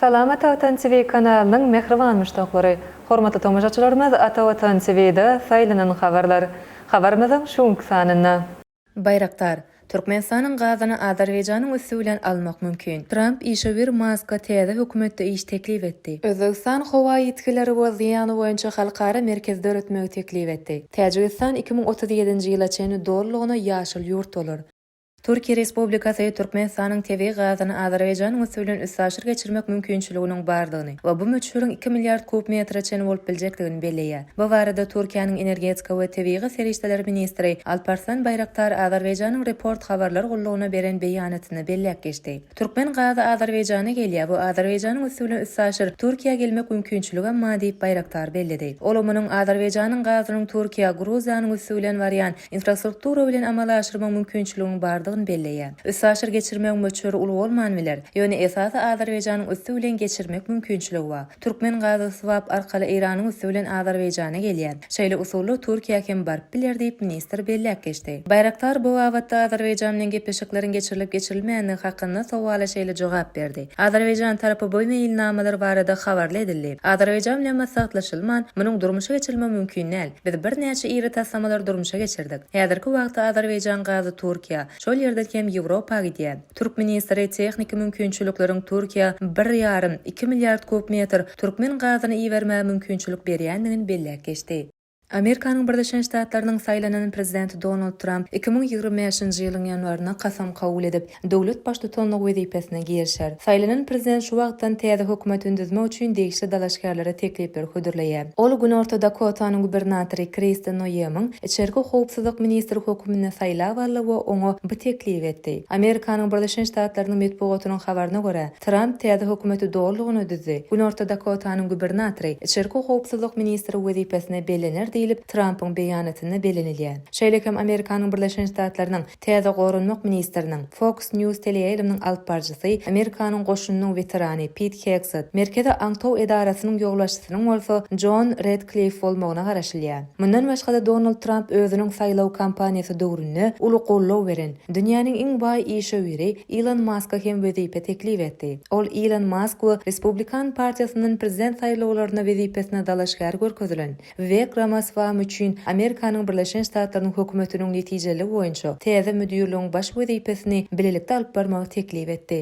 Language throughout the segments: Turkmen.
Salam Ata Watan TV kanalynyň mähriban muşdaklary! Hormatly tomaşaçylarymyz Ata Watan TV-de saýlanan habarlar. Habarymyzyň şu günki sanynda. Baýraktar, Türkmenistanyň gazyny Azerbaýjanyň üsti bilen almak mümkin. Tramp işewür Maska täze hökümetde iş teklip etdi. Özbegistan howa ýitgileri we zyýany boýunça halkara merkez döretmegi teklip etdi. Täjigistan iki müň otuz ýedinji ýyla çenli dolulygyna ýaşyl ýurt bolar. Türkiýe Respublikasy Türkmenistanyň tebigy gazyny Azerbaýjanyň üsti bilen üstaşyr geçirmek mümkinçiliginiň bardygyny we bu möçberiň iki milliard kub metre çenli bolup biljekdigini belleýär. Bu barada Türkiýäniň energetika we tebigy serişdeler ministri Alparslan Baýraktar Azerbaýjanyň Report habarlar gullugyna beren beýanatynda belläp geçdi. Türkmen gazy Azerbaýjana gelýär, bu Azerbaýjanyň üsti bilen üstaşyr Türkiýä gelmek mümkinçiligem ba diýip Baýraktar belledi. Ol munuň Azerbaýjanyň gazynyň Türkiýä, Gruziýanyň üsti bilen barýan infrastruktura bilen amala aşyrma mümkinçiliginiň bardygyny belleýär. Üstaşyr geçirmegiň möçberi uly bolman biler, ýöne esasy Azerbaýjanyň üsti bilen geçirmek mümkinçiligi ba. Türkmen gazy swap arkaly Eýranyň üsti bilen Azerbaýjana gelýär. Şeýle usulla Türkiýä hem baryp biler diýip, ministr belläp geçdi. Baýraktar bu babatda Azerbaýjan bilen gepleşikleriň geçirilip-geçirilmänligi hakynda sowala şeýle jogap berdi, Azerbaýjan tarapy bu meýilnamalar barada habarly edildi. Azerbaýjan bilen maslahatlaşylman, munuň durmuşa geçirilmegi mümkin däl. Biz birnäçe iri taslamalary durmuşa geçirdik. Häzirki wagtda Azerbaýjan gazy Türkiýä, şol ýerden hem Ýewropa gidýär. Türk ministri tehniki mümkinçilikleriň Türkiýä bir ýarym, iki milliard kub metr türkmen gazyny ibermäge mümkinçilik berýändigini belläp geçdi. Amerikanyň Birleşen Ştatlarynyň saýlanan prezidenti Donald Tramp iki müň ýigrimi bäşinji ýylyň ýanwarynda kasam kabul edip, döwlet baştutanlygy wezipesine girişer. Saýlanan prezident şu wagtdan täze hökümet düzmek üçin degişli dalaşgärlere teklipleri hödürleýär. Ol Günorta Dakotanyň gubernatory Kristi Noemiň içerki howpsuzlyk ministri höküminde saýlap aldy we oňa bu teklibi etdi. Amerikanyň Birleşen Ştatlarynyň metbugatynyň habaryna görä, Tramp täze hökümeti dolulygyna düzdi, Günorta Dakotanyň gubernatory içerki howpsuzlyk ministri wezipesine bellener diýlip, Trampyň beýanatynda bellenilýär. Şeýle hem Amerikanyň Birleşen Ştatlarynyň Täze Goranmak ministriniň, Fox News teleýaýlymynyň alyp baryjysy, Amerikanyň goşunynyň weterany Pit Hegsed, Merkezi aňtaw edarasynyň ýolbaşçysynyň bolsa Jon Redkliff bolmagyna garaşylýar. Mundan başga-da Donald Tramp özüniň saýlaw kampaniýasy döwründe uly goldaw beren, dünýäniň iň baý işewüri Ilon Maska hem wezipe teklip etdi. Ol Ilon Mask we Respublikan partiýasyndan prezident saýlawlaryna wezipesine dalaşgär görkezilen Wek Ramaswamy üçin Amerikanyň Birleşen Ştatlarynyň Hökümetiniň netijeliligi boýunça täze müdirligiň baş wezipesini bilelikde alyp barmagy teklip etdi.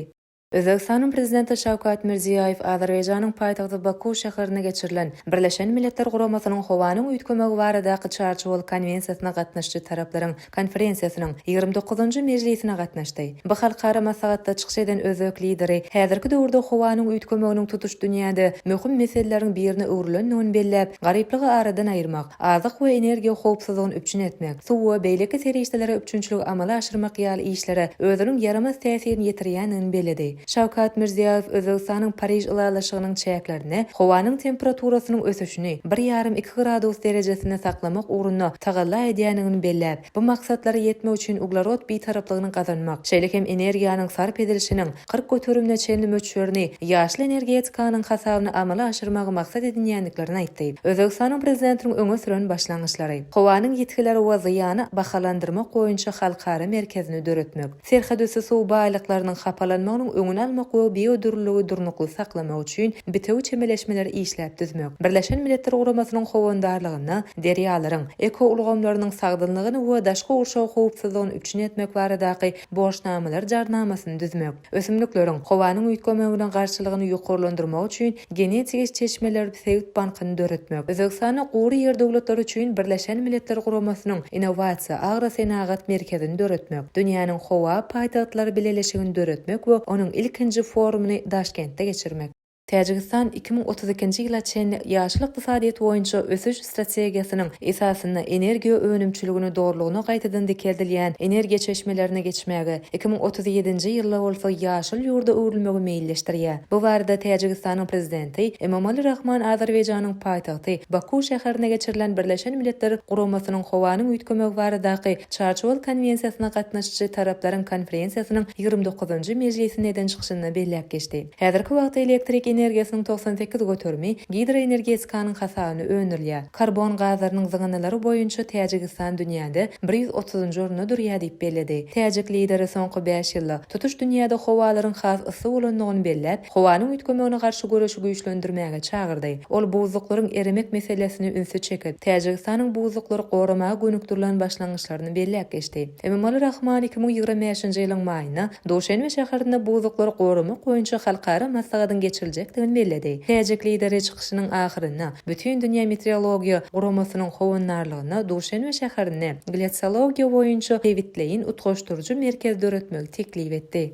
Özbegistanyň Prezidenti Şawkat Mirziýoýew Azerbaýjanyň paýtagty Baku şäherinde geçirilen Birleşen Milletler Guramasynyň Howanyň üýtgemegi baradaky çarçuwaly konwensiýasyna gatnaşyjy taraplaryň konferensiýasynyň ýigrimi dokuzynjy mejlisine gatnaşdy. Bu halkara maslahatda çykyş eden özbek Lideri häzirki döwürde howanyň üýtgemeginiň tutuş dünýäde möhüm meseleleriň birine öwrülendigini belläp, garyplygy aradan aýyrmak, azyk we energiýa howpsuzlygyny üpjün etmek, suw we beýleki serişdelere üpjünçiligi amala aşyrmak ýaly işlere özüniň ýaramaz täsirini ýetirýändigini belledi. Şawkat Mirziýoýew Özbegistanyň Pariž ylalaşygynyň çäklerinde howanyň temperaturasynyň ösüşini bir ýarym-iki gradus derejesinde saklamak ugrunda tagalla edýändigini belläp, bu maksatlara ýetmek üçin uglerod bitaraplygyny gazanmak, şeýle hem energiýanyň sarp edilişiniň kyrk göterimine çenli möçberini ýaşyl energetikanyň hasabyna amala aşyrmagy maksat edinýändiklerini aýtdy. Özbegistanyň Prezidentiniň öňe süren başlangyçlary, howanyň ýitgileri we zyýany bahalandyrmak boýunça halkara merkezini döretmek, Serhetüsti suw baýlyklarynyň hapalanmagynyň öňüni almak we biodürlüligi durnukly saklamak üçin bitewi çemeleşmeleri işläp düzmek, Birleşen Milletler Guramasynyň howandarlygynda derýalaryň ekoulgamlarynyň sagdynlygyny we daşky gurşaw howpsuzlygyny üpjün etmek baradaky borçnamalar jarnamasyny düzmek, ösümlikleriň howanyň üýtgemegine garşylygyny ýokarlandyrmak üçin Genetiki çeşmeler sebit bankyny döretmek, Özbegistanda gury ýer döwletleri üçin Birleşen Milletler Guramasynyň Innowasiýa agrosenagat merkezini döretmek, Dünýäniň howa paýtagtlary bileleşigini döretmek we onuň ilkinji forumyny Daşkentde geçirmek. Täjigistan iki müň otuz ikinji ýyla çenli ýaşyl ykdysadyýet boýunça ösüş strategiýasynyň esasynda energiýa önümçiligini dolulygyna gaýtadan dikeldilýän energiýa çeşmelerine geçmäge, iki müň otuz ýedinji ýylda bolsa ýaşyl ýurda öwrülmegi meýilleşdirýär. Bu barada Täjigistanyň Prezidenti Emomali Rahmon Azerbaýjanyň paýtagty Baku şäherinde geçirilen Birleşen Milletler Guramasynyň Howanyň üýtgemegi baradaky Çarçuwaly konwensiýasyna gatnaşyjy taraplaryň konferensiýasynyň ýigrimi dokuzynjy mejlisinde eden çykyşynda belläp geçdi. Häzirki wagtda elektrik energiýasynyň togsan sekiz göterimi gidroenergetikanyň hasabyna öndürilýär. Karbon gazlarynyň zyňyndylary boýunça Täjigistan dünýäde bir ýüz otuzynjy orunda durýar diýip belledi. Täjik Lideri soňky bäş ýylda tutuş dünýäde howalaryň has yssy bolandygyny belläp, howanyň üýtgemegine garşy göreşi güýçlendirmäge çagyrdy. Ol buzluklaryň eremek meselesine ünsi çekip, Täjigistanyň buzluklary goramaga gönükdirilen başlangyçlaryny belläp geçdi. Emomali Rahmon iki müň ýigrimi bäşinji ýylyň maýynda Duşenbe şäherinde buzuklary goramak boýunça halkara maslahatyň geçiriljekdigini belledi. Täjik Lideri çykyşynyň ahyrynda Bütindünýä meteorologiýa guramasynyň howandarlygynda Duşenbe şäherinde Gletsologiýa boýunça sebitleýin utgaşdyryjy merkez döretmegi teklip etdi.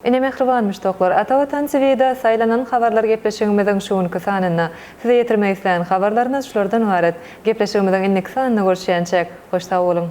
Ine mähriban muşdaklar, Ata Watan TV-de Saýlanan habarlar gepleşigimiziň şu günki sanynda. Size ýetirmek islän habarlarymyz şulardan ybarat. Gepleşigimiziň indiki sanynda görüşýänçäk, hoş sag boluň!